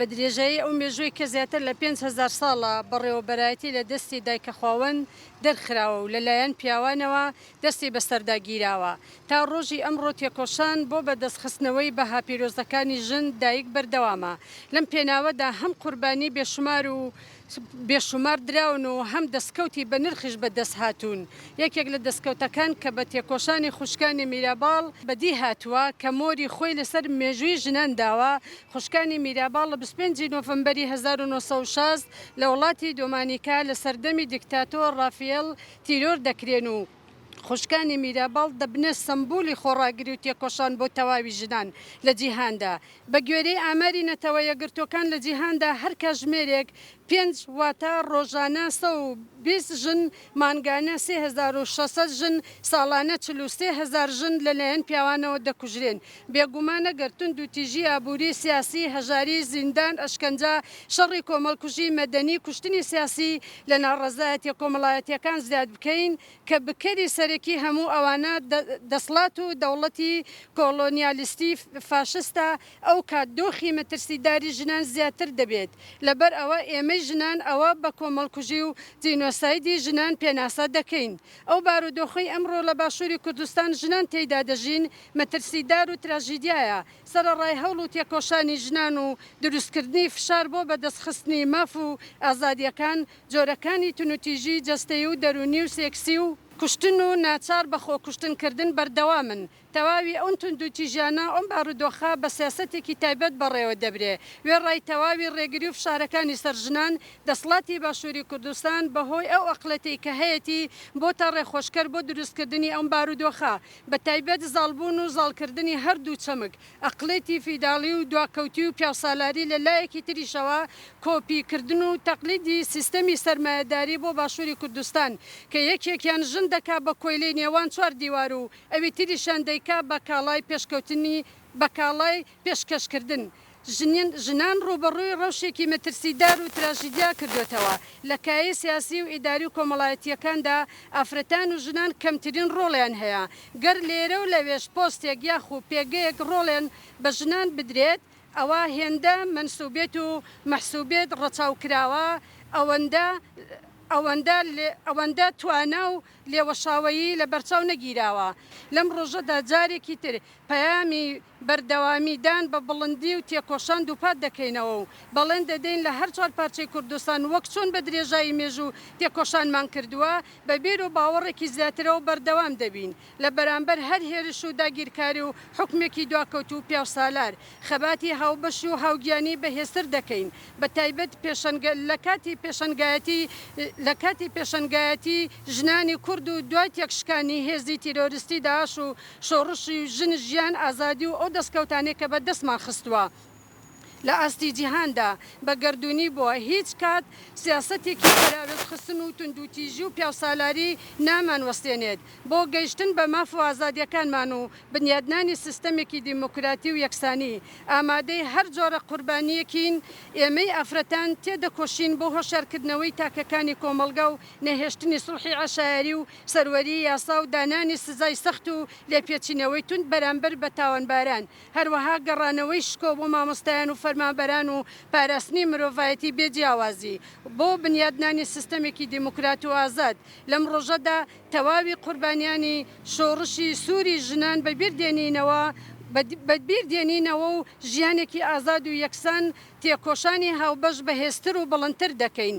بە درێژایی ئەو مێژووی کە زیاتر لە پێنج هەزار ساڵە بەڕێوەبەرایەتی لە دەستی دایکە خواوەند دەرخراوە و لەلایەن پیاوانەوە دەستی بەسەردا گیراوە تا ڕۆژی ئەمڕۆ تێکۆشان بۆ بەدەستخستنەوەی بەها پیرۆزەکانی ژن دایک بەردەوامە لەم پێناوەدا هەم قوربانی بێشومار و بێ شومار دراون و هەم دەستکەوتی بە نرخیش بە دەست هاتوون. یەکێک لە دەستکەوتەکان کە بە تێکۆشانی خوشکانی میراباڵ بە دی هاتووە کە مۆری خۆی لە سەر مێژووی ژنان داوە، خوشکانی میراباڵ لە بیست و پێنج ی نۆفەمبەری هەزار و نۆ سەد و شەست لە وڵاتی دۆمانیکا لە سەردەمی دیکتاتۆر ڕافیێڵ تیرۆر دەکرێن و، خوشکانی میراباڵ دەبنە سەمبولی خۆڕاگری و تێکۆشان بۆ تەواوی ژنان لە جیهاندا. بە گوێرەی ئاماری نەتەوە یەکگرتووەکان لە جیهاندا هەر کاژمێرێک پێنج واتە ڕۆژانە سەد و بیست ژن، مانگانە سێ هەزار و شەش سەد ژن، ساڵانە چل و سێ هەزار ژن لەلایەن پیاوانەوە دەکوژرێن. بێگومان ئەگەر توندوتیژی ئابووری، سیاسی، هەژاری، زیندان، ئەشکەنجە، شەڕی کۆمەڵکوژی مەدەنی، کوشتنی سیاسی لە ناڕەزایەتیە کۆمەڵایەتیەکان زیاد بکەین کە بکەری سەرەکی هەموو ئەوانە دەسڵات و دەوڵەتی کۆڵۆنیالیستی فاشستە ئەو کات دۆخی مەترسیداری ژنان زیاتر دەبێت لەبەر ئەوە ئێمەی ژنان ئەوە بە کۆمەڵکوژی و جینۆسایدی ژنان پێناسە دەکەین ئەو بارودۆخەی ئەمڕۆ لە باشووری کوردستان ژنان تێیدا دەژین مەترسیدار و تراژیدیایە سەرەڕای هەوڵ و تێکۆشانی ژنان و دروستکردنی فشار بۆ بەدەستخستنی ماف و ئازادییەکان، جۆرەکانی تونوتیژی جەستەیی و دەروونی و سێکسی و، کوشتن و ناچار بە خۆکوشتن کردن بەردەوامن، تەواوی ئەون توندوتیژیانە ئەم بارودۆخە بە سیاسەتێکی تایبەت بەڕێوە دەبرێ، وێڕای تەواوی ڕێگری و فشارەکانی سەر ژنان، دەسڵاتی باشووری کوردستان بە هۆی ئەو ئەقڵێتەی کە هەیەتی بۆتە ڕێخۆشکەر بۆ دروستکردنی ئەم بارودۆخە، بە تایبەت زاڵبوون و زاڵکردنی هەردوو چەمک، ئەقڵێتی فیداڵی و دواکەوتی و پیاوسالاری، لە لایەکی تریشەوە کۆپی کردن و تەقلیدی سیستەمی سەرمایەداری بۆ باشووری کوردستان، کە یەکێکیان ژن دەکا بە کۆیلەی نێوان چوار دیوار و ئەوی تریشیان دەیکا بە کاڵای پێشکەوتنی بە کاڵای پێشکەشکردن ژنان ڕووبەڕووی ڕەوشێکی مەترسیدار و تراژیدیا کردۆتەوە، لە کایەی سیاسی و ئیداری و کۆمەڵایەتییەکاندا ئافرەتان و ژنان کەمترین ڕۆڵیان هەیە، گەر لێرە و لەوێش پۆستێک یاخو پێگەیەک ڕۆڵێن بە ژنان بدرێت ئەوا هێندە مەنسوبێت و مەحسوبێت ڕەچاو کراوە ئەوەندە توانا و لێوەشاوەیی لەبەرچاو نەگیراوە لەم ڕۆژەدا جارێکی تر پەیامی بەردەوامیدان بە بڵندی و تێکۆشان دووپات دەکەینەوە و بەڵێن دەدەین لە هەر چوار پارچەی کوردستان وەک چۆن بە درێژایی مێژوو تێکۆشانمان کردووە بە بیر و باوەڕێکی زیاترەوە بەردەوام دەبین لە بەرامبەر هەر هێرش و داگیرکاری و حوکمێکی دواکەوتوو و پیاوسالار خەباتی هاوبەش و هاوگیانی بەهێزتر دەکەین بە تایبەت پێشەنگە لە کاتی پێشەنگایەتی لە کاتی پێشەنگایەتی ژنانی کورد و دوای تێکشکانی هێزی تیرۆریستی داعش و شۆڕشی ژن، ژیان، ئازادی و ئەو دەستکەوتانەی کە بە دەستمان خستووە لە ئاستی جیهاندا بە گەردوونی بووە، هیچ کات سیاسەتێکی پەراوێزخستن و توندوتیژی و پیاوسالاری نامان وەستێنێت بۆ گەیشتن بە ماف و ئازادیەکانمان و بنیادنانی سیستەمێکی دیموکراتی و یەکسانی ئامادەی هەر جۆرە قوربانیەکین ئێمەی ئافرەتان تێدەکۆشین بۆ هۆشیارکردنەوەی تاکەکانی کۆمەڵگا و نەهێشتنی سوڵحی عەشایەری و سەروەریی یاسا و دانانی سزای سەخت و لێپێچینەوەی توند بەرامبەر بە تاوانباران، هەروەها گەڕانەوەی شکۆ بۆ مامۆستایان و فەرمانبەران و پاراستنی مرۆڤایەتی بێ جیاوازی بۆ بنیادنانی سیستەمێکی دیموکرات و ئازاد. لەم ڕۆژەدا تەواوی قوربانیانی شۆڕشی سووری ژنان بەبیر دێنینەوە و ژیانێکی ئازاد و یەکسان تێکۆشانی هاوبەش بەهێزتر و بڵندتر دەکەین.